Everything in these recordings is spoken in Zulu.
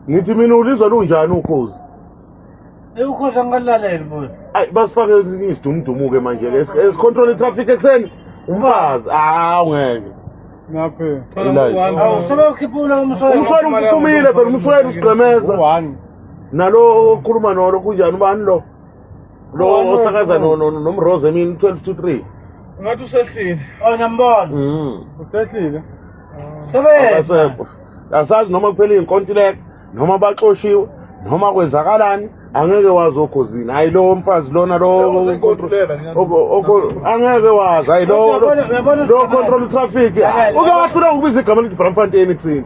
ngithi mina ulizwa lunjani ukhozi ukhozi angalaleli futhi ayi basifake esinye isidumudumu-ke manje le esicontrol i-traffic ekuseni umfazi awu ngeke sebewukhiphula umsweli umsweli phela umsweli usigqemeza nalo okhuluma nolo kunjani ubani lo lo One osakaza no- no- nomrose emini 12 to 3 ngathi usehlile Oh ngiyambona. Mm. Usehlile. Sebenza. akasekho asazi noma kuphela iy'nkontileka noma baxoshiwe noma kwenzakalani angeke wazi okhozini hayi lowo mfazi lona lowo angeke wazi hayi lowo Uyabona- uyabona- lowo control traffic uke wahlula ukubiza igama elithi bramfontein ekuseni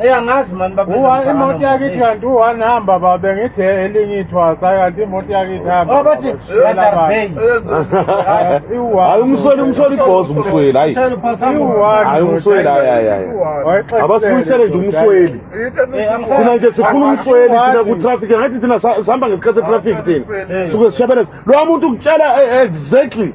Eyi angazi mani baba. Uwa imoto yakithi kanti u-one hamba babe ngithi elinye ithwasa kanti imoto yakithi hamba. Abathi Radar Bay. Hayi umsweli umsweli ibhozi umsweli hayi. Hayi umsweli hayi hayi hayi. Abasibuyisele nje umsweli. Thina nje sifuna umsweli thina ku traffic ngathi thina sihamba ngesikhathi se traffic thina. Suke sishabelela. Lo muntu ukutshela exactly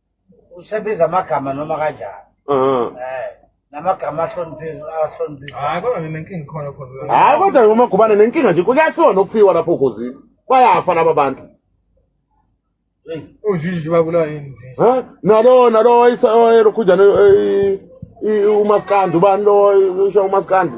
usebiza amagama noma kanjani Mhm. eh namagama ahloniphile ahloniphile hayi kodwa mina inkinga ikhona khona hayi kodwa ngomagubane nenkinga nje kuyafiwa nokufiwa lapho ogozini bayafa laba bantu Hey, unjinji babulawa yini nje Ha? nalo nalo oyiselokhunjana umaskandi ubani lo usho umaskandi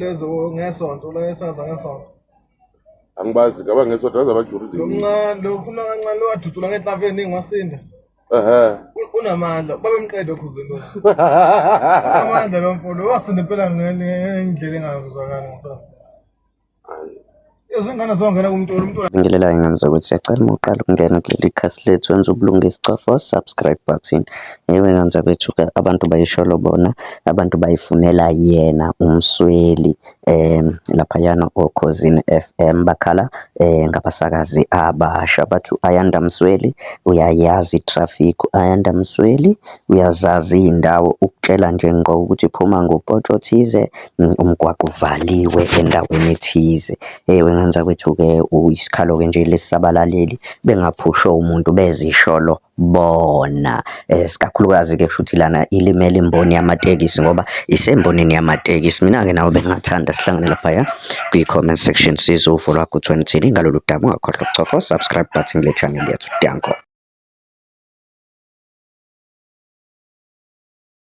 lezo ngesonto lo esaza ngesonto angibazi ngaba ngesonto aza bajuride lomncane lo khuluma kancane lo wadudula ngetlaveni ngwasinda ehe unamandla babemqede okhuzeni lo amandla lo mfo lo wasinda impela ngendlela engazwakali ngempela izingane zongena kumntula umntula ngilela ingamza ukuthi siyacela uma uqala ukungena kuleli khasi lethu wenza ubulungisi cofa subscribe button yewe ngamza kwethu abantu bayisholo bona abantu bayifunela yena umsweli um laphayana okhozini f m bakhala um ngabasakazi abasha bathi ayanda msweli uyayazi itraffic ayanda msweli uyazazi iy'ndawo ukutshela nje ngqo ukuthi phuma ngopotsho thize umgwaqo uvaliwe endaweni ethize. Ewu engenza kwethu-ke isikhalo-ke nje lesi sabalaleli bengaphushwa umuntu bezisholo bona. Isikakhulukazi-ke kushuthi lana ilimele imboni yamatekisi ngoba isembonini yamatekisi. Mina-ke nawe bengingathanda sihlangane laphaya kwi-comment section sizwe uvo lwakho ukuthi wena uthini ngalolu daba. Ungakhohlwa ukucofa u-subscribe button kule channel yethu. Danko.